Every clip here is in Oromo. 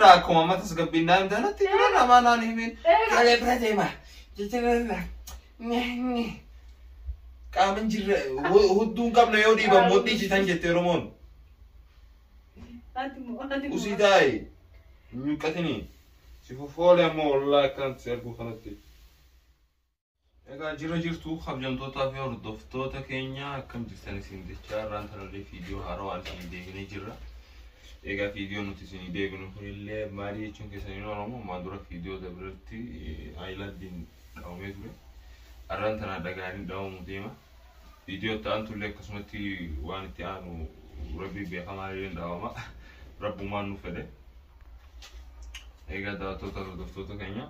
akkuma amma tasgabbiin naa himte kanatti bira namaa naan himin ijoollee bira deema jijjiirra qaama hin jirre hu- hudduu hin qabne yoo dhiiban mudhii citan jette oromoon Ati moo ati moo. usii taa'e hin nyuqqatini si fuffoole ammoo wallaa akkanatti si arguu kanatti Egaa jira jirtu kabjamtootaa fi hordoftoota keenya akkam jirtan isin jechaa irraan tararree fiidiyoo haarawaan isinii deebinee jirra. Egaa fiidiyoo nuti isinii deebinu kunillee maalii jechuun keessaniin Oromoo maa dura fiidiyoo dabaretti ayilaandiin dhawamee ture. Arraan tanaa dhagaaniin dhawamu deema. Fiidiyoo itti aantullee akkasumatti waan itti aanu rabbi beekamaa illee dhawama. Rabbumaan nu fedhe. Egaa daawwattoota hordoftoota keenya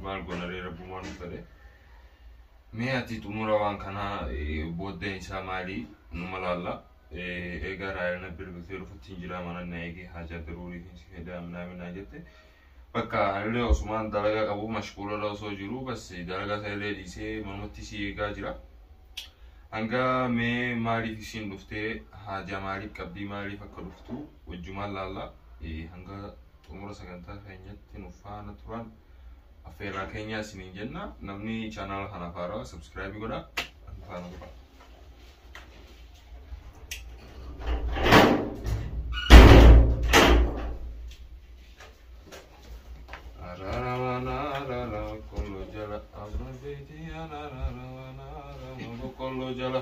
maal goona ree rabbumaan nu fedhe. Mee ati xumura waan kanaa booddeen isaa maalii numa laalla. Egaa raayina bilbiltee dhufutti hin jiraa mana na eegee haajaa daruurii fi si hedaa minaamin naa jette. Bakka anillee osumaan dalagaa qabu mashquularra osoo jiru bas dalagaa isaa illee dhiisee manumatti si eegaa jira. Hangaa mee maaliif isiin dhuftee haajaa maaliif qabdii maaliif akka dhuftuu wajjumaan laallaa eh, hanga xumura sagantaa keenyatti nu faana turaan affeerraa keenyaa isiniin jenna namni chaanaala kanaaf haaraa sabskraayibii godhaa nu faana turaa. Boqqolloo jala.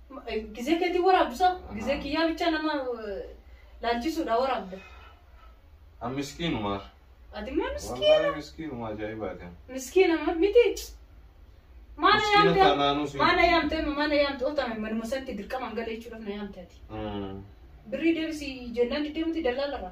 Gizee keetiin waraabdusa gizee kiyyaa bichaa nama eh, laalchisuudha waraabda. An miskiinuma. Ati immoo miskiina. Wallaahi miskiinuma ajaa'ibaati. Miskiina ma- miti. Maana Miskiina yaamte taanaanuu si- maana yaamte amma maana yaamte otame manuma sanatti dirqamaan gala jechuudhaaf na yaamte ati. Mm. Birrii deebisi jennaan diddeemuti dallaalarra.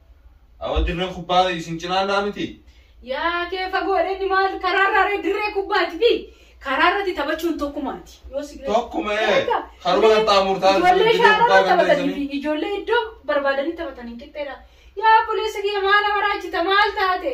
Awa dirreen kubbaa isin cinaallaa miti. Yaa kee fagoodha inni maal karaarraa ree dirree kubbaati fi karaarratti taphachuun tokkumaati. Yoo si Tokkuma ee. Egaa, Karuma mee qaxxaamurtaa Ijoollee dirree kubbaa shaararra kan taphatanii fi teessanii. ijoollee iddoo barbaadanii taphatan hin qixxeedha. Yaa obboleessa kiyya maal amaraachita maal taate?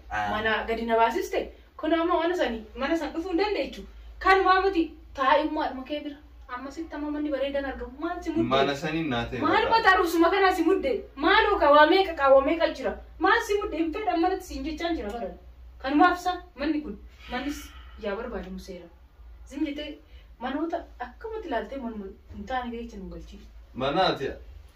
Ah. mana gadi na baasiste kun amma mana sani mana san dhufuu hin dandeechu kan maamati taa'immaadhuma kee bira amma sitti amma manni bareedan argamu maal si mudde Mana saniin naa ta'e. maal mataa dhufsuma kanaa si mudde maaloo ka waa meeqa kaa waa meeqa jira maal si mudde hin fedhan manatti siin jechaan jira baran kanumaaf sa manni kun mannis yaa barbaadamu seera zim jettee manoota akkamatti ilaaltee manuma hin taane keessa nu galchiif Mana ati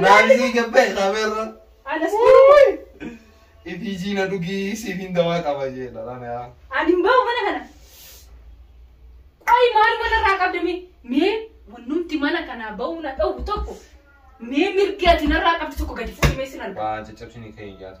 Naalisii gabbee qabeerra. Anas kuruun. Ifiijii na dhugii siifiin dawaa qaba jee dhalaan yaa. Ani hin bahu mana kana. Qoyi maal mana irraa qabda mee? Mee wannumti mana kanaa bahuu na dhowwu tokko mee mirgi ati narraa qabdu tokko gadi fuudhimee sin arga. Waa caccabsini kee hin jaatu.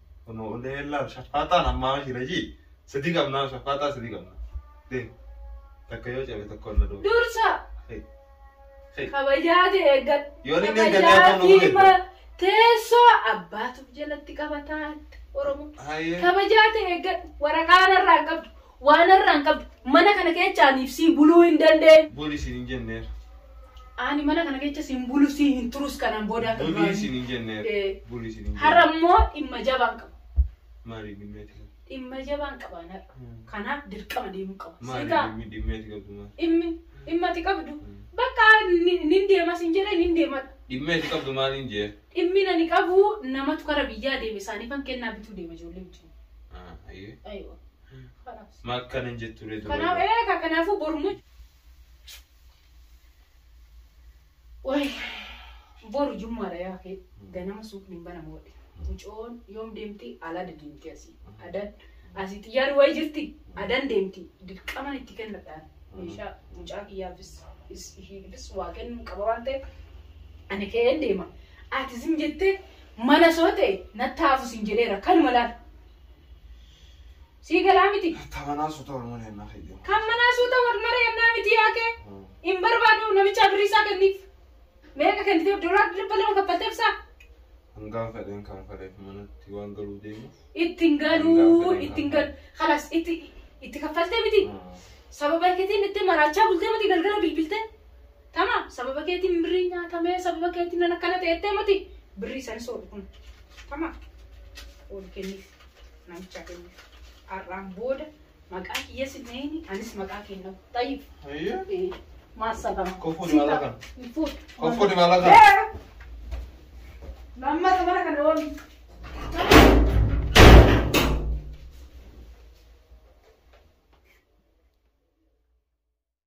Kunoo hundee illaa shaffaaxaan ammaa mashii rajii sadii qabnaa shaffaaxaa sadii qabnaa. Dee takka yoo cabe tokko onna doo. Dursa Hey. Hey. kabajaa kee eeggadhu. Yoo inni eeggatee Kabajaa akka nu fi godhe. ma- teessoo abbaatuuf jalatti qabataa Oromoo. Hayyee. Kabajaa kee eeggadhu. Waraqaa narraa hin qabdu. Waa narraa hin qabdu. Mana kana keecha aniif sii buluu hin dandee. Buli siin hin jenneer. Ani mana kana keecha siin bulu sii hin turus kanaan booda akka Buli duraa siin hin jenneer. Eh. Buli siin hin Har'a jenneer. immoo dhimma jabaan qaba. Maali dhimmeeti qabdu? Dhimma jabaan qabaan har'a. Hmm. Kanaaf dirqama deemuu qaba. Maali Sigaa dhimmi- dhimmeeti qabdu maali? dhimmi dhimma ati qabdu Hmm. bakka ni- nin deema sin jedhe nin deemadha. Dhimmeeti qabdu maaliin jee? Dhimmi ani qabu namatu gara biyyaa deeme isaaniifan kennaa bituu deema ijoollee wajjin. Ah, ayyee. Aywa. Kanaaf. Maal kan hin jettu ree Kanaaf dubarri? eega kanaafuu bormu. Wayi boru jummaadha yaa kee ganama suuqni hin banamu wadhi. Mucoon yoom deemti alaa deemti asii. Adan asii xiyyaarri wayi jirti adan deemti dirqaman itti kennadhaan meeshaa mucaa kiyyaafis is- ishiifis waa kennuun qaba waan ta'eef ani ka'een deema. Ati zim jettee mana soo ta'e natti haafu sin jedheera kanuma laal. Sii galaa miti. Tamanaa suuta wal mana yennaa kee deema. Kan manaa suuta wal mara yennaa miti yaa kee. Hin barbaadu namichaa birrii isaa kenniif. Meeqa kenniteef doolaar dhibba lama kaffalteef isaa. Hangaan fedheen kan faleef manatti waan galuu deemu. Itti hin galuu itti hin galu. Kalas itti itti kaffaltee miti. Sababa keetiin itti maraachaa bultee miti galgala bilbiltee. Tama sababa keetiin birrii nyaatamee sababa keetiin nan akkana ta'ettee miti birrii isanis oolu kun tama oolu kenniif namichaa kenniif har'aan booda maqaa kiyya sinneeni anis maqaa kennu tayyib Ayyee. maassabama Kofuu dimalaa kana. Kofuu dimalaa kana. lammata bara kana oolu